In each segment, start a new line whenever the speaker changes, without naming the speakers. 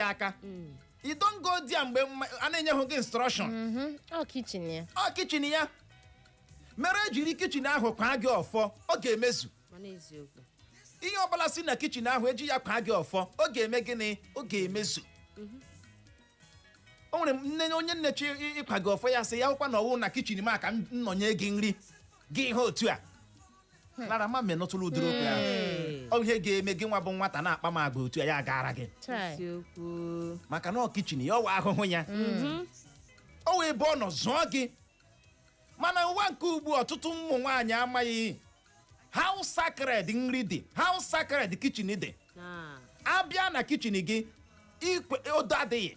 ya aka you don't go there mgbe mma- a na-enye hụ gị instruction Mhm. ọ kitchen
ya ọ kitchen
ya mere ejiri kitchen ahụ kwaa gị ọfọ ọ ga-emezu mana eziokwu
ihe ọbụla
si na kitchen ahụ eji ya kwaa gị ọfọ ọ ga-eme gịnị ọ ga-emezu o nwere nne onye nne chi ịkwa gị ọfọ ya sị ya hụkwa na ọwụ na kitchen m a ka m nọ nye gị nri gị ihe otu a Clara ama m ma ị nụtụrụ ụdịrị okwu ahụ Ee. ọ bụ ihe ga-eme gị nwa bụ nwata na-akpa m agwa otu a ya agaara gị Chai. Eziokwu.
maka na ọ
kitchen ya ọwụ ahụhụ ya ọ wụ ebe ọ nọ zụọ gị mana ụwa nke ugbu a, ọtụtụ ụmụ nwaanyị amaghị how sacred nri dị how sacred kitchen dị Na. abịa na kitchen gị ikwe odo adịghị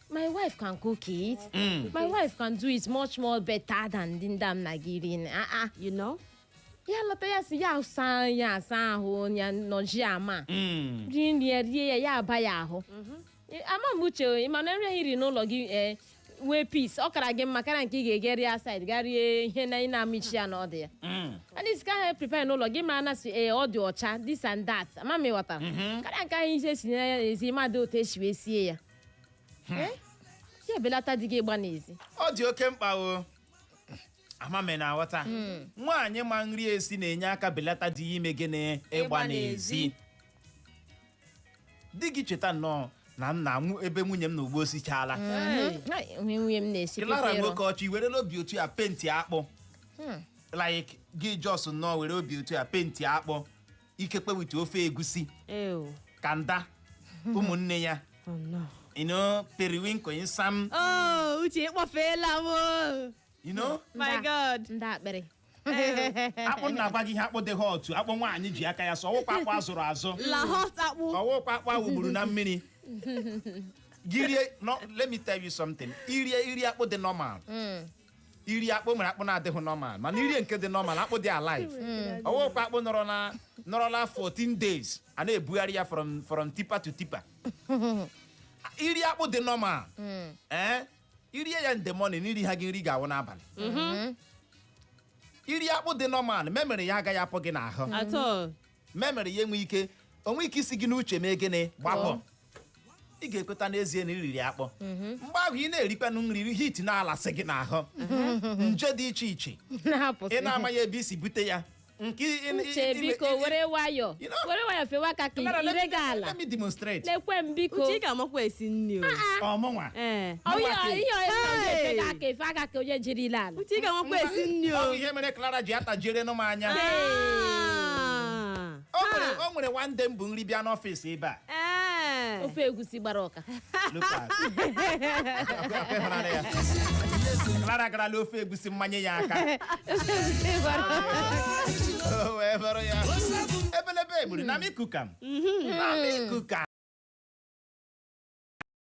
my wife can cook it my wife can do it much more better than ndị ndị m na gị iri ah ah you
know ya lọta ya
sị ya saa ya asa ahụ ya nọjị ala Mm. rie nri ya rie ya ya aba ya ahụ Eh, ama m uche o, ị ma na nri ahụ i ri n'ụlọ gị eh, nwee peace ọ kara gị mma karịa nke ị ga-ege rie outside ga rie ihe na ị na-amaghị isi ya na ọdụ ya Mm. and isi ka ha prepare n'ụlọ gị mara na si ee ọ dị ọcha this and that ama m ịghọtara karịa nke ahụ isi esi n'ezi amaghị otu esi wee sie ya ya ebelata di gị ịgba n'ezi ọ dị oke
mkpa o ama m ma ị na-aghọta nwaanyị ma nri esi na-enye aka belata di ya ime gịnị ịgba Ịgba n'ezi n'ezi. di gị cheta nnọọ na m na-anwụ ebe nwunye m na ugbo o sichaala Ai,
onye nwunye m na-esi Clara pepero nwoke ọchị i were
n'obi otu ya penti akpụ like gị just nnọọ were obi otu ya penti akpụ ikekwe with ofe egusi Ew. kanda ụmụnne ya Oh, no. you know periwinkle nsam Oh, uche
ịkpọfeela m o. you know my
Nda- god ndị
akpịrị
akpụ na-agwa gị ihe akpụ dị hot akpụ nwaanyị ji aka ya sụọ ọwụkwa akpụ azụrụ azụ la hot
akpụ ọwụkwa akpụ awụgburu
na mmiri gị rie no let me tell you something irie iri akpụ dị normal iri akpụ mere akpụ na-adịghị normal mana irie nke dị normal akpụ dị alive ọwụkwa akpụ nọrọ na nọrọla 14 days a na-ebugharị ya from from tipper to tipper iri akpụ dị normal ee irie ya in the morning iri ha gị nri ga-awụ n'abalị iri akpụ dị normal memory ya agaghị apụ gị n'ahụ at all memory ya enwe ike o nwe ike isi gị n'uche mee gịnị gbapụ ị ga-ekweta n'ezie na iriri akpụ mgbe ahụ ị na-erikwanụ nri heat na-alasị gị n'ahụ nje dị iche iche ị na-apụsị na-amaghị ebe i si bute ya nke ị- ị- ị- uche
ị- biko ị- were nwayọ You know- were nwayọ fewa aka ka Kamara, let ire me- gị ala let me demonstrate lekwe
m biko uche ị
ga-amakwa esi
nri o ọ mụnwa
ee Ọ ihe ọ- ihe ọ- ihe ọ
Hey! ga-efe gị aka efe aka ka onye jiri ile ala uche ị ga-amakwa esi
nri ọ bụ o ihe mere Clara
ji atajiere nụ m anya Ah. o nwere Ha. o nwere one day m bu nri bịa n'ọfịs ebe a Ee. ofe egusi gbara ọka
Look at. Akwa-
akwa ịhụnanya ya. Clara garala ofe egusi mmanye ya aka Ofe egusi gbara ọka. O wee bụrụ ya ebelebe egburu na mikukam na mikukam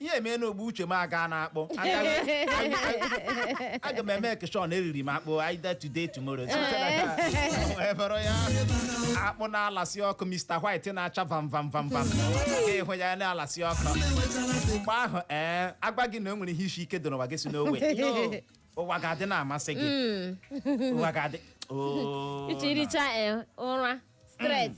ihe emee na ugbu a uche m aga na akpụ aga m emake sure na eriri m akpụ either today tomorrow wee bụrụ ya akpụ na-alasị ọkụ Mr. White na-acha vam vam vam vam ị hụ ya na-alasị ọkụ mgbe ahụ ee agwa gị na o nwere ihe isi ike dị n'ụwa gị sị no way ụwa ga-adị na-amasị gị ụwa ga-adị oo iji
richa eh, ụra straight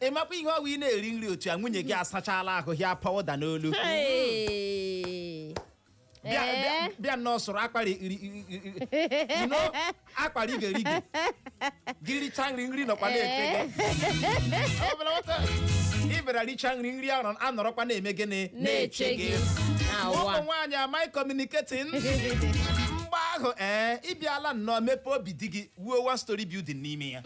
ị
makwa ihe ọ wụ ị na-eri nri otu a nwunye gị asachala ahụ ha powder n'olu Hey. bịa Eh? bịa- bịa nnọọ sụrụ akwa iri- iri- iri- iri- you know, akwa rigi rigi gị richa nri nri nọkwa na-eche gị Ọ bụla nwata, ị bịara richa nri nri ahụ anọrọkwa na-eme gịnị na-eche gị ụmụ nwaanyị amaghị communicating mgbe ahụ ee ịbịala nnọọ mepee obi di gị wuo one story building n'ime ya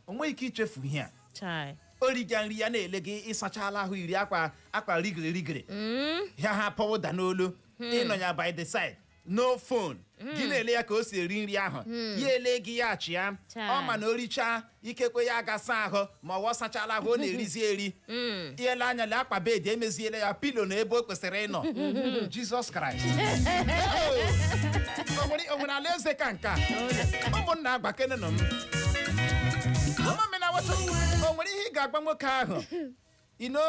o nweghị ike ichefu ihe a chai o riga nri ya na-ele gị ị sachala ahụ yiri akwa akwa rigiri rigiri ya ha powder n'olu ị nọ ya by the side no phone gị na-ele ya ka o si eri nri ahụ ya ele gị ya achịa Chai. ọ ma na o richaa ikekwe ya aga saa ahụ ma ọ wụ ọ sachala ahụ ọ na-erizi eri i lee anya lee akwa bed emeziela ya pillow na ebe o kwesịrị ịnọ Jesus Christ O nwere- o nwere alaeze ka nke a ụmụnna gwakenenụ m mama m na-aweta o nwere ihe ị ga-agwa nwoke ahụ ino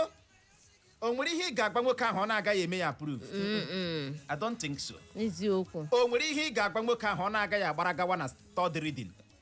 o nwere ihe ị ga-agwa nwoke ahụ ọ na-agaghị eme ya approve I don't think so. eziokwu o nwere
ihe ị ga-agwa
nwoke ahụ ọ na-agaghị agbara gawa na third reading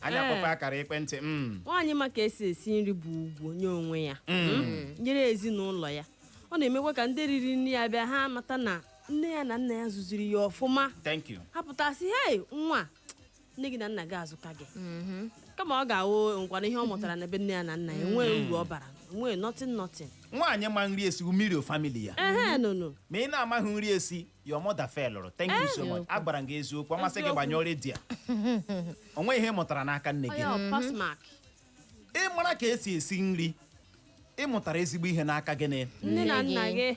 anyị Ee. akpọkwa akara ekwentị mm. nwaanyị ma
ka esi esi nri bụ ugwu nye onwe ya Mm. nyere ezinụlọ ya ọ na-emekwa ka ndị riri nri ya bịa ha mata na nne ya na nna ya zụziri ya ọfụma thank you ha pụta
sị
hei nwa nne gị na nna gị azụka gị kama ọ ga-awụkwanụ ihe ọ mụtara na be nne ya na nna ya enwee uru ọ bara enwee nothing nothing nwaanyị ma nri
esi mmiri o family ya ehe nụnụ ma ị na-amaghị nri esi your mother failụrụ thank you so much a gwara m gị eziokwu ọ masị gị Eziokwu. gbanyụọ redio a. o nweghị ihe ị mụtara n'aka nne gị Onye ọ pass mark. ị mara ka esi esi nri ị mụtara ezigbo ihe n'aka gị na Nne na nna gị.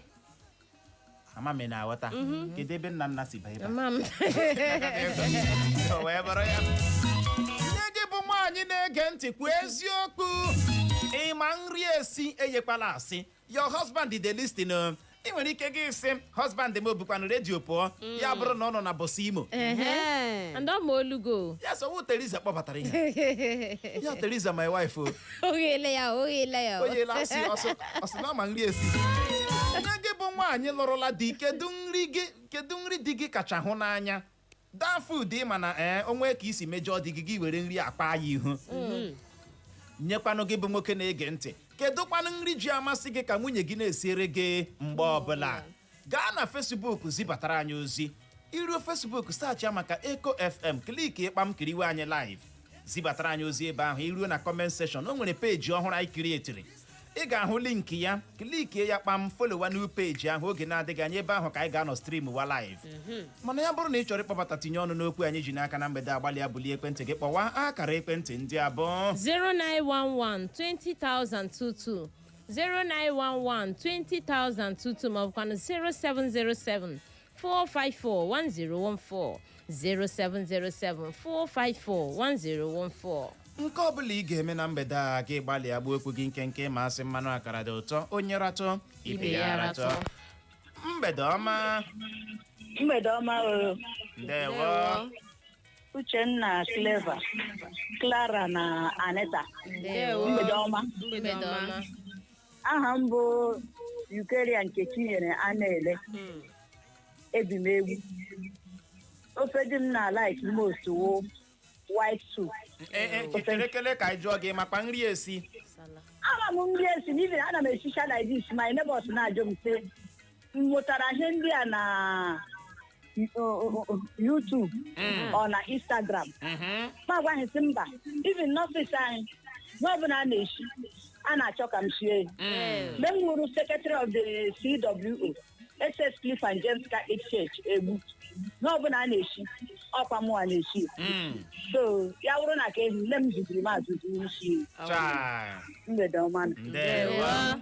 ama m ị na-aghọta kedu ebe nna nna si banye ebe a? Mama m. O wee bụrụ ya. nne gị bụ nwaanyị na-ege ntị kwuo eziokwu ị ma nri esi enyekwala asị your husband dey listen o ị nwere ike gị sị husband m o bukwanụ redio pụọ ya bụrụ na ọ nọ na bọsụ imo Ehe. and ọ ma olu gị o ya sị ọ wụ Teresa kpọbatara ihe ya Teresa my wife o oghele
ya oghele ya onye
lasị ọsọ ọ sị na ọ ma nri esi nne gị bụ nwaanyị lụrụla di kedu nri gị kedu nri di gị kacha hụ n'anya that food ị ma na ee o nwee ka i si mejọọ di gị gị were nri akpa ya ihu nyekwanụ gị bụ nwoke na-ege ntị kedụkwanụ nri ji amasị gị ka nwunye gị na-esiere gị mgbe ọbụla gaa na fesbuk zibatara anyị ozi i ruo fesbuk saachịa maka eko fm klikie kpam kiriwe anyị live zibatara anyị ozi ebe ahụ i ruo na kọment seshọn o nwere peji ọhụrụ anyị kirietiri ị ga-ahụ link ya klikie ya kpam folowa new peji ahụ oge na-adịghị anya ebe ahụ ka anyị ga-anọ stream wa live mana ya bụrụ na ị chọrọ ịkpọbata tinye ọnụ n'okwu anyị ji n'aka na mgbede a gbalịa bulie ekwentị gị kpọwa akara ekwentị ndị a bụ 0911 20022 0911 20022
maọbụkwanụ 0707 454-1014 0707-454-1014 nke ọ bụla
ị ga-eme na mgbede a gị gbalịa gbuo okwu gị nkenke ị ma a sị mmanụ akara dị ụtọ onye ratụ ibe ya ratụ mgbede ọma mgbede ọma o
ndewo uchenna cleva clara na aneta ndewo mgbede ọma mgbede ọma aha m bụ Eucharia Nkechinyere Anaele Mm. ebi m Egbu ofe di m na like most wụ white soup Ee, ee, chere
kele ka anyị jụọ gị ị makwa nri esi Nsala. ama m
nri esi n'ihi na ana m esicha like this my neighbors na-ajụ m sị m mụtara ihe ndị a na o- o- o- YouTube Mm. ọ na Instagram Mhm. mụ agwa ha sị mba even n'ọfịs anyị ihe ọbụla a na-eshi a na-achọ ka m sie ya Mm. mgbe m wụrụ secretary of the CWO SS Philip and James Catholic Church Egbu ihe ọbụla a na-eshi ọkwa mụwa na-eshi ya. Mm. so ya wụrụ na ka ehi nne m zụziri m azụzi isi Chai. mgbede ọma nụ. Ndewo. Ndewo.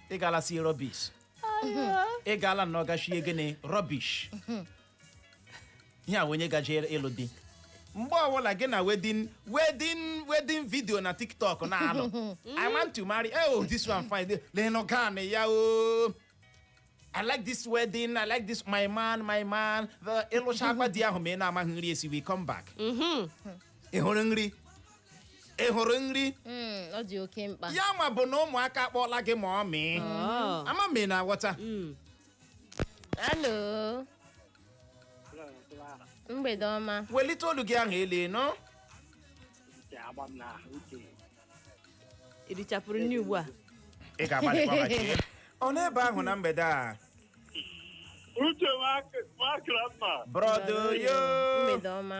ị gaala sie rọbish ị gaala na ọ gachie gịnị rọbish ihe a onye gaje ịlụ di mgbe ọbụla gị na wedin wedin wedin vidio na tiktok na-alụ i want to marry oh this one fine lenụ gown ya o I like this wedding, I like this my man, my man. The ị lụcha agwa di ahụ ma ị na-amaghị nri esi we come back. ị hụrụ nri ị hụrụ nri
Mm, ọ dị oke mkpa ya ma bụ na
ụmụaka akpọọla gị mummy Oh. ama m ị na-aghọta Mm. hello
mgbede ọma welite olu gị ahụ elu
ị
nụ Ị richapụrụ nri ugbu a ị
ga-agbalịkwa maka ya. ọ n'ebe ahụ na mgbede a
Uche makra mma. brọdo yo
mgbede ọma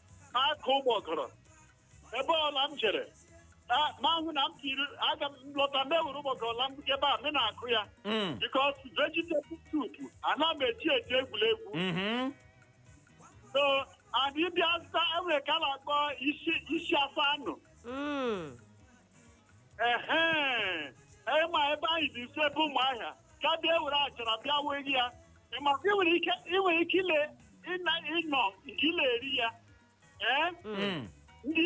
akụ ụgbọgọrọ ebe ọla m jere a- ma hụ na m tiri aga m lọta m ewere ụgbọgọrọ la m ebe a m na-akụ ya Mm. because vegetable soup ana m eji eji egwuregwu Mhm. so and ị bịa zụta e nwere nke a na-akpọ isi isi afọ anụ Mm. ehe ị ma ebe anyị dị nso ebe Ụmụahịa ka bịa were achara bịa wee ya maka ị nwere ike ị nwere ike ile ịna ịnọ nke ị le-eri ya ee Mm. ndị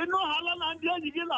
ịnụ hala na ndị enyi gị na